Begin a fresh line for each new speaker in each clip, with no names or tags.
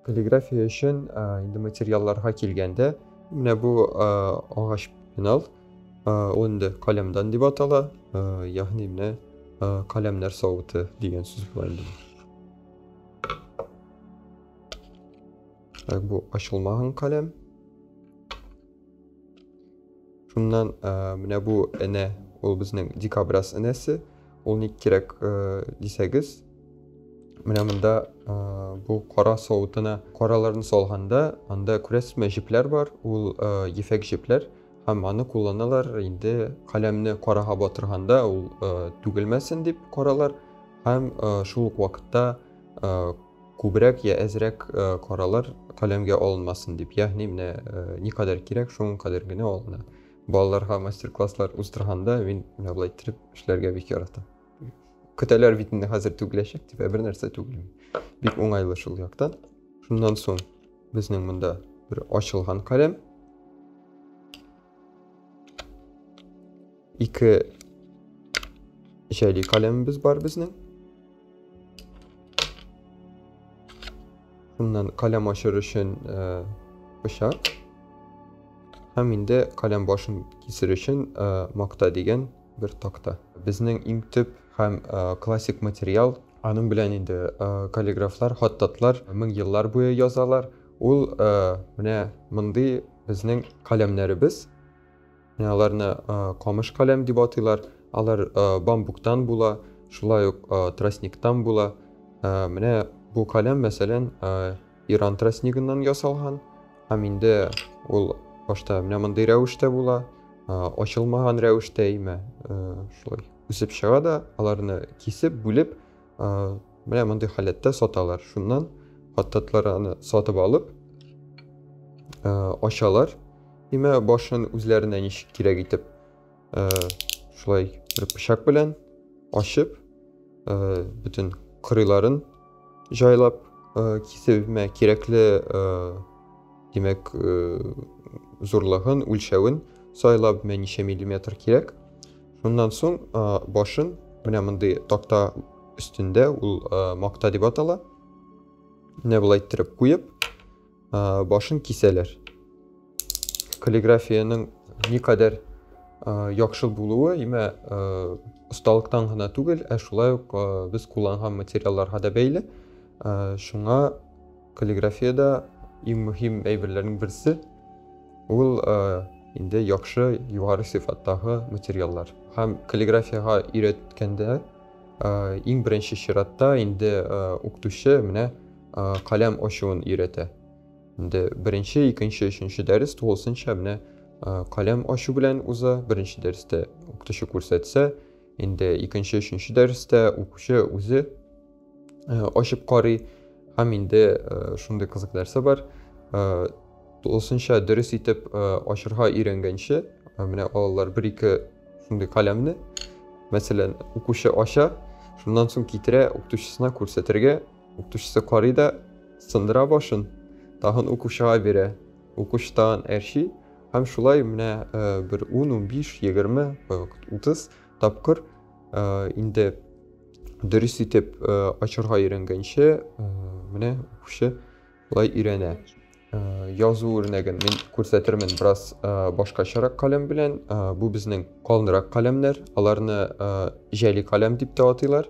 Каллиграфия өчен инде материалларга килгәндә, менә бу агач пенал, ул инде каләмдан дип атала, ягъни менә каләмнәр савыты дигән сүз була инде. Бу ачылмаган каләм. шуннан ә, менә бу энә ул безнең дикобраз энәсе ул ник кирәк ә, дисәгез менә монда ә, бу кара савытына караларны салганда анда күрәсезме җепләр бар ул ә, ефәк җепләр һәм аны кулланалар инде каләмне карага батырганда ул ә, түгелмәсен дип каралар һәм ә, шул ук вакытта ә, Күбрәк йә әзрәк каралар каләмгә алынмасын дип, ягъни менә никадәр кирәк, шуның кадәр генә алына. Балаларга мастер-класслар уздырганда мин менә болай иттереп эшләргә бик яратам. Көтәләр бит инде хәзер түгеләчәк дип, ә бер нәрсә түгелми. Бик уңайлы шул яктан. Шуннан соң безнең монда бер ачылган каләм. Ике җәли каләмебез бар безнең. Шуннан каләм ашыр өчен пычак. Һәм инде каләм башын кисер өчен макта дигән бер такта. Безнең иң төп һәм классик материал. Аның белән инде каллиграфлар, хаттатлар мең еллар буе язалар. Ул менә мондый безнең каләмнәребез. Аларны камыш каләм дип атыйлар. Алар бамбуктан була, шулай ук тростниктан була. Менә бу каләм, мәсәлән, Иран тростнигыннан ясалган. Һәм инде ул башта менә мондый рәвештә була, ачылмаган рәвештә имә шулай үсеп чыга да, аларны кисеп, бүлеп, менә мондый халәттә саталар шуннан хаттатлар аны сатып алып ачалар имә башын үзләренә ничек кирәк итеп шулай бер пычак белән ачып бөтен кырыйларын жайлап кисебемә кирәкле димәк зурлыгын үлчәвен сайлап мә ничә миллиметр кирәк Шуннан соң башын менә мондый такта өстендә ул макта дип атала. Менә болай иттереп куеп, башын кисәләр. Каллиграфиянең никадәр яхшы булуы, имә осталыктан гына түгел, ә шулай ук без кулланган материалларга да бәйле. Шуңа Каллиграфиядә иң мөһим әйберләрнең берсе ул инде яхшы югары сыйфаттагы материаллар. Һәм каллиграфиягә өйрәткәндә иң беренче чиратта инде укытучы менә каләм ачуын өйрәтә. Инде беренче, икенче, өченче дәрес тулысынча менә каләм ачу белән уза. Беренче дәрестә укытучы күрсәтсә, инде икенче өченче дәрестә укучы үзе э, ачып карый һәм инде э, шундый кызык нәрсә бар э, тулысынча дөрес итеп ачырга өйрәнгәнче менә алар бер ике шундый каләмне мәсәлән укучы ача шуннан соң китерә укытучысына күрсәтергә укытучысы карый да сындыра башын тагын укучыга бирә укучы тагын әрчи Һәм шулай менә бер ун, унбиш, егерме, утыз тапкыр инде дөрес итеп ачырга өйрәнгәнче менә укучы лай өйрәнә. Э, язу үрнәген мин күрсәтермен бераз э, башкачарак каләм белән э, бу безнең калынрак каләмнәр аларны җәли каләм дип тә атыйлар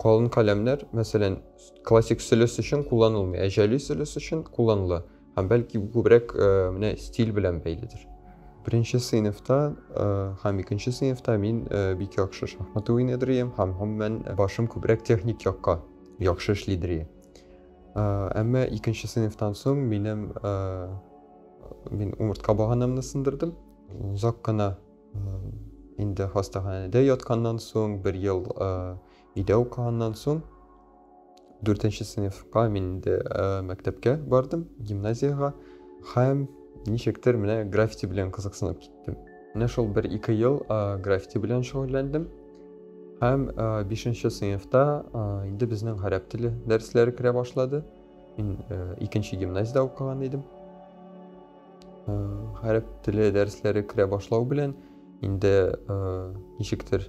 Калын каләмнәр, мәсәлән, классик сөлес өчен кулланылмый, ә җәли сөлес өчен кулланыла. Һәм бәлки бу күбрәк э, менә стиль белән бәйледер. Беренче сыйныфта э, һәм икенче сыйныфта мин э, бик яхшы шахмат уйныйдыр идем һәм гомумән башым күбрәк техник якка яхшы эшлидер иде. Әмма икенче сыйныфтан соң минем мин умыртка баганамны сындырдым. Озак кына инде хастаханәдә ятканнан соң бер ел өйдә укыганнан соң дүртенче сыйныфка мин инде мәктәпкә бардым гимназиягә һәм ничектер менә граффити белән кызыксынып киттем менә шул бер ике ел граффити белән шөгыльләндем һәм бишенче сыйныфта инде безнең гарәп теле дәресләре керә башлады мин икенче гимназиядә укыган идем Гарәп теле дәресләре керә башлау белән инде ничектер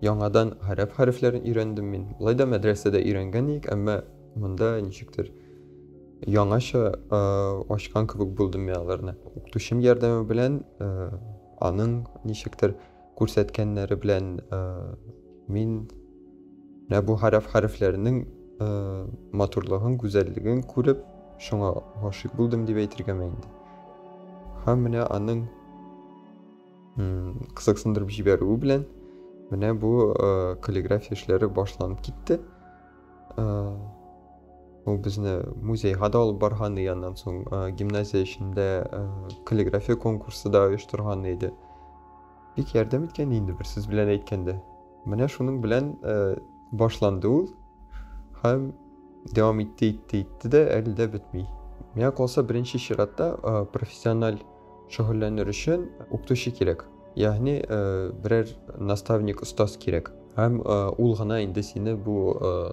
яңадан гарәп хәрефләрен өйрәндем мин. Алай да мәдрәсәдә өйрәнгән идек, әмма монда ничектер яңаша ачкан кебек булдым мин аларны. Укытучым ярдәме белән аның ничектер күрсәткәннәре белән э, мин менә бу хәрәф хәрефләрнең э, матурлыгын, гүзәллеген күреп, шуңа гашыйк булдым дип әйтергә инде. Һәм менә аның кызыксындырып җибәрүе белән менә бу э, каллиграфия эшләре башланып китте. Ул безне музейга да алып барган иде, аннан соң гимназия эчендә каллиграфия конкурсы да оештырган иде. Бик ярдәм иткән инде бер сүз белән әйткәндә. Менә шуның белән э, башланды ул һәм дәвам итте, итте, итте дә әле дә бетми. Миңа калса беренче чиратта э, профессиональ шөгыльләнер өчен укытучы кирәк. Ягъни э, берәр наставник, остаз кирәк. Һәм э, ул гына инде сине бу э,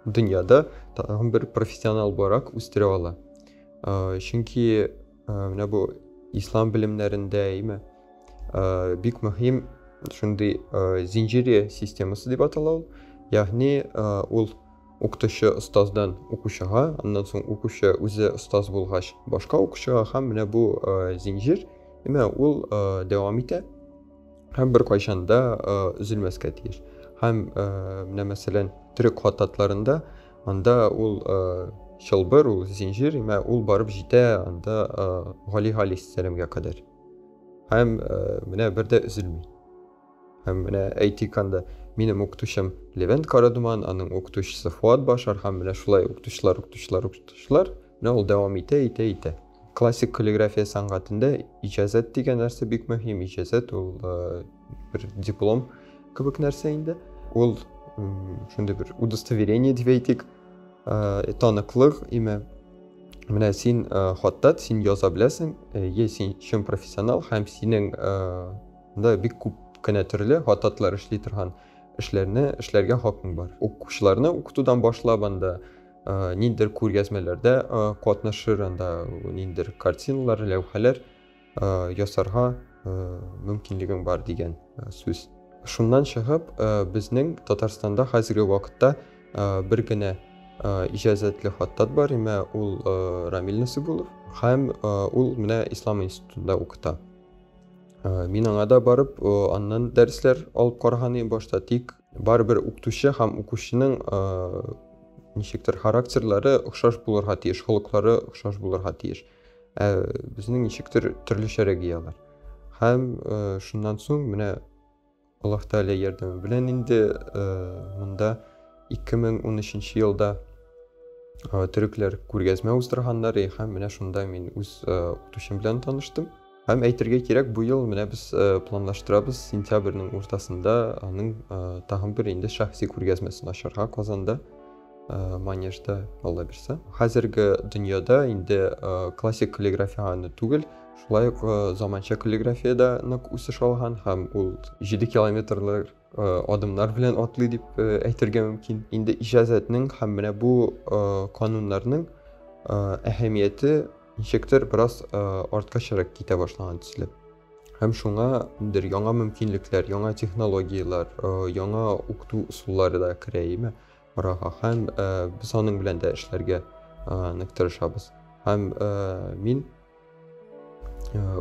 дөньяда тагын бер профессионал буларак үстерә ала. Э, чөнки Менә бу ислам белемнәрендә, әйме? Бик мөһим шундый зинҗире системасы дип атала ул. Ягъни ул укытучы остаздан укучыга, аннан соң укучы үзе остаз булгач, башка укучыга һәм менә бу зинҗир, әйме, ул дәвам итә. һәм беркайчан да өзелмәскә тиеш. Һәм менә мәсәлән, төрек хататларында анда ул чылбыр, ул зинҗир, мә ул барып җитә анда Гали Галис сәламгә кадәр. Һәм менә бер дә өзелми. Һәм менә әйтик анда минем укытучым Левент Карадуман, аның укытучысы Фуат Башар һәм менә шулай укытучылар, укытучылар, укытучылар, менә ул дәвам итә, итә, итә. Классик каллиграфия сәнгатендә иҗазәт дигән нәрсә бик мөһим. Иҗазәт ул бер диплом кебек нәрсә инде. Ул шундый бер удостоверение дип әйтик, таныклык име. Менә син хаттат, син яза беләсең, е син чын профессионал һәм синең да бик күп кенә төрле хаттатлар эшли торган эшләрне эшләргә хакың бар. Укучыларны укытудан башлап анда ниндидер күргәзмәләрдә катнашыр, анда ниндидер картиналар, ләүхәләр ясарга мөмкинлегең бар дигән сүз. Шуннан чыгып, безнең Татарстанда хәзерге вакытта бер генә иҗазәтле хаттат бар, имә ул Рамил Насыйбулов һәм ул менә Ислам институтында укыта. Мин аңа да барып, аннан дәресләр алып караган идем башта, тик Барыбер укытучы һәм укучының ничектер характерлары охшаш булырга тиеш, холыклары охшаш булырга тиеш. Ә безнең ничектер төрлечәрәк ияләр. Һәм шуннан соң менә Аллаһ Тәгалә ярдәме белән инде монда 2013 елда төрекләр күргәзмә уздырганнар һәм менә шунда мин үз укытучым белән таныштым. Һәм әйтергә кирәк, бу ел менә без планлаштырабыз сентябрьнең уртасында аның тагын бер инде шәхси күргәзмәсен ачарга Казанда. Э, манежда алла бирсә хәзерге дөньяда инде э, классик каллиграфия гана түгел шулай ук э, заманча каллиграфия да нык үсеш алган һәм ул җиде километрлар адымнар белән атлый дип әйтергә мөмкин. Инде иҗазәтнең һәм менә бу кануннарның әһәмияте ничектер бераз артка чырак китә башлаган төсле. Һәм шуңа бер яңа мөмкинлекләр, яңа технологияләр, яңа укыту ысуллары да керә име арага. Һәм без аның белән дә эшләргә нык тырышабыз. Һәм мин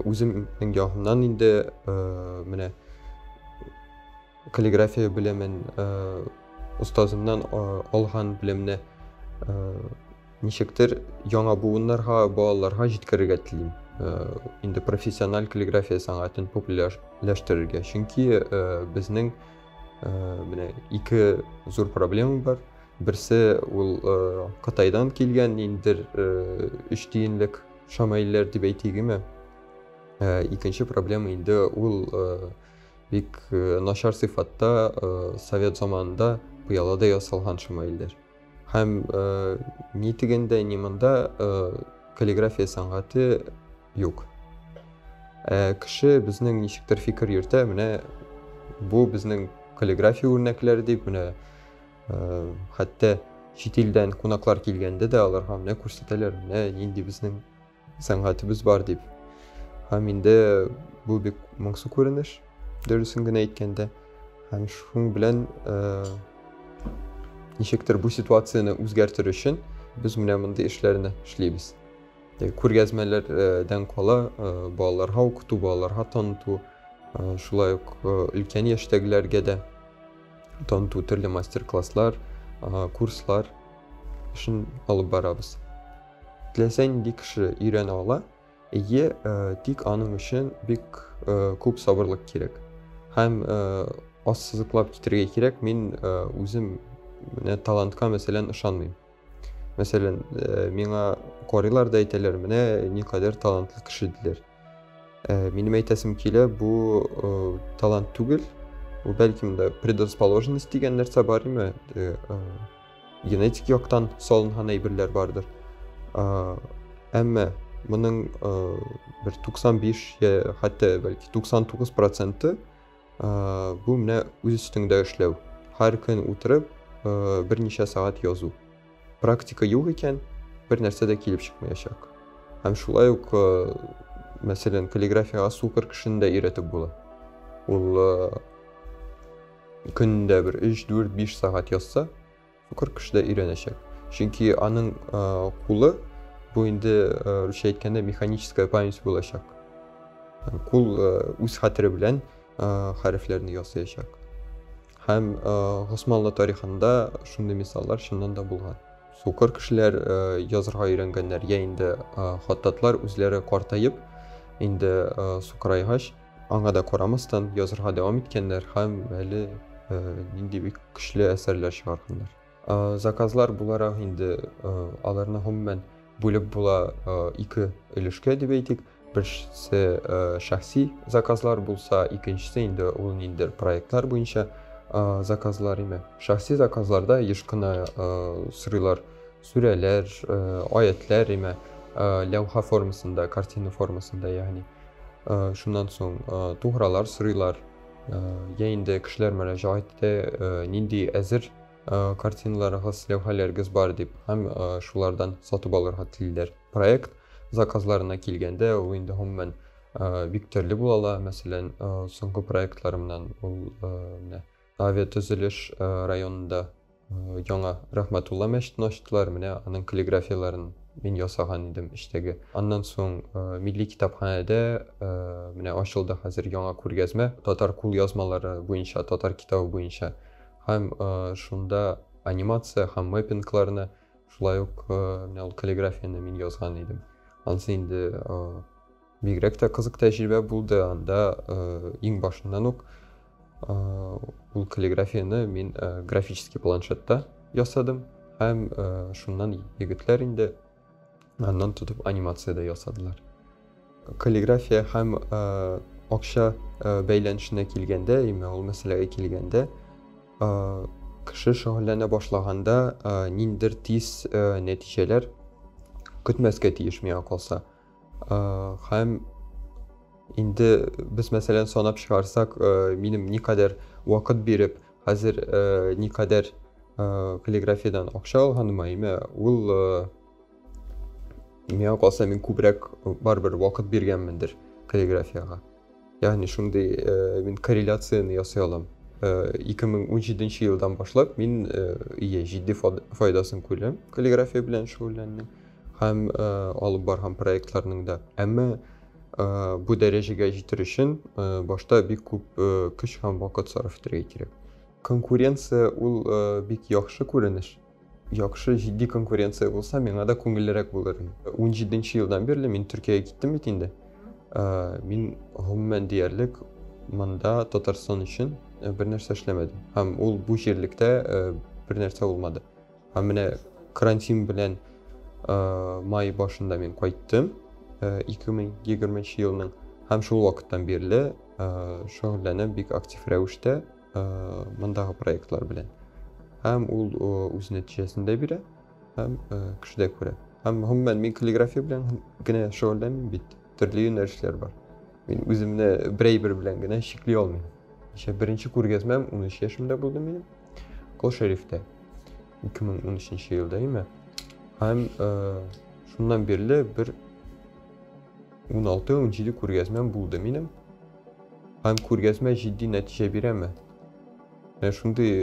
үземнең ягымнан инде менә каллиграфия белемен остазымнан алган белемне ничектер яңа буыннарга балаларга җиткерергә телим инде профессиональ каллиграфия сәнгатен популярләштерергә чөнки безнең Э, менә ике зур проблема бар берсе ул э, кытайдан килгән ниндидер э, өч тиенлек шамайлер дип әйтегеме икенче проблема инде ул бик начар сыйфатта совет заманында пыялада ясалган шамайлер Һәм э, ни тегендә, ни монда э, каллиграфия сәнгате юк. Ә кеше безнең ничектер фикер йөртә, менә бу безнең каллиграфия үрнәкләре дип, менә э, хәтта чит илдән кунаклар килгәндә дә аларга менә күрсәтәләр, менә нинди безнең Сәнгатебез бар дип. Һәм инде бу бик моңсу күренеш, дөресен генә әйткәндә. Һәм шуның белән ничектер бу ситуацияне үзгәртер өчен без менә мондый эшләрне эшлибез. Күргәзмәләрдән кала балаларга укыту, балаларга таныту, шулай ук өлкән яшьтәгеләргә дә таныту төрле мастер-класслар, курслар эшен алып барабыз. Теләсә нинди кеше өйрәнә ала, әйе, тик аның өчен бик күп сабырлык кирәк. Һәм ассызыклап китерергә кирәк, мин үзем менә талантка мәсәлән ышанмыйм. Мәсәлән, миңа карыйлар да әйтәләр, менә никадәр талантлы кеше диләр. Ә, минем әйтәсем килә, бу ә, талант түгел, бу бәлки монда предрасположенность дигән нәрсә бар име? Ә, ә, генетик яктан салынган әйберләр бардыр. Ә, әмма моның ә, бер 95 я хәтта бәлки 99 проценты ә, бу менә үз өстеңдә эшләү. Һәр көн утырып, ә, берничә сәгать язу. Практика юк икән, бер нәрсә дә килеп чыкмаячак. Һәм шулай ук, э, мәсәлән, каллиграфиягә сукыр кешене дә өйрәтеп була. Ул э, көндә бер 3, 4, 5 сәгать язса, сукыр кеше дә өйрәнәчәк. Чөнки аның э, кулы бу инде русча әйткәндә механическая память булачак. Кул үз хәтере белән хәрефләрне ясаячак. Һәм Госманлы тарихында шундый мисаллар чыннан да булган. Сукыр кешеләр язырга өйрәнгәннәр, я инде хаттатлар үзләре картаеп, инде сукырайгач, аңа да карамастан язырга дәвам иткәннәр һәм әле нинди бик көчле әсәрләр чыгарганнар. Заказлар буларак инде аларны гомумән бүлеп була ике өлешкә дип әйтик. Берсе шәхси заказлар булса, икенчесе инде ул ниндер проектлар буенча заказлар име. Шәхси заказларда еш кына сырыйлар сүрәләр, аятләр име, ләүха формасында, картина формасында ягъни. Шуннан соң тугралар сырыйлар. Я инде кешеләр мөрәҗәгать итә, нинди әзер картиналарыгыз, ләүхәләрегез бар дип һәм шулардан сатып алырга телиләр. Проект заказларына килгәндә ул инде гомумән бик төрле була ала. Мәсәлән, соңгы проектларымнан ул менә авиатөзелеш районында яңа Рахматулла мәчетен ачтылар. Менә аның каллиграфияләрен мин ясаган идем эчтәге. Аннан соң милли китапханәдә менә ачылды хәзер яңа күргәзмә татар кулъязмалары буенча, татар китабы буенча. Һәм шунда анимация һәм мэппингларны, шулай ук менә ул каллиграфияне мин язган идем. Ансы инде бигрәк тә кызык тәҗрибә булды. Анда иң башыннан ук ул каллиграфияне мин графический планшетта ясадым һәм шуннан егетләр инде Аннан тотып анимация дә ясадылар. Каллиграфия һәм э, акча э, бәйләнешенә килгәндә, яме ул мәсьәләгә килгәндә, э, кеше шөгыльләнә башлаганда э, ниндер тиз э, нәтиҗәләр көтмәскә тиеш миңа калса. Хәм инде без мәсәлән санап чыгарсак, минем никадәр вакыт биреп, хәзер никадәр каллиграфиядән акча алганыма, әйме, ул миңа калса мин күбрәк барыбер вакыт биргәнмендер каллиграфиягә. Ягъни шундый э, мин корреляцияне ясый алам. 2017 э, елдан башлап мин э, ие җитди файдасын күрәм каллиграфия белән шөгыльләнүнең һәм алып барган проектларның да. Әмма бу дәрәҗәгә җитер өчен башта бик күп көч һәм вакыт сарыф итәргә кирәк. Конкуренция ул бик яхшы күренеш, Яхшы, җитди конкуренция булса, миңа да күңеллерәк булыр. 17 нче елдан бирле мин Төркиягә киттем бит инде. Э, мин гомумән диярлек монда Татарстан өчен э, бер нәрсә эшләмәдем. Һәм ул бу җирлектә э, бер нәрсә булмады. Һәм менә карантин белән май башында мин кайттым 2020 елның һәм шул вакыттан бирле шөгыльләнәм бик актив рәвештә мондагы проектлар белән һәм ул үз нәтиҗәсен дә бирә һәм кеше дә күрә һәм гомумән мин каллиграфия белән генә шөгыльләнмим бит төрле юнәлешләр бар мин үземне бер әйбер белән генә чикли алмыйм еще беренче күргәзмәм ун өч яшемдә булды минем кол шәрифтә ике мең ун өченче елда име һәм шуннан бирле бер ун алты ун җиде күргәзмәм булды минем Һәм күргәзмә җитди нәтиҗә бирәме? Менә шундый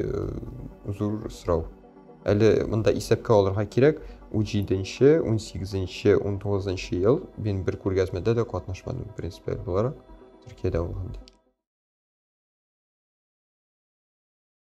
зур сорау. Әле монда исәпкә алырга кирәк, 17-нче, 18-нче, 19-нчы ел мин бер күргәзмәдә дә катнашмадым, принципиаль буларак, Төркиядә булганда.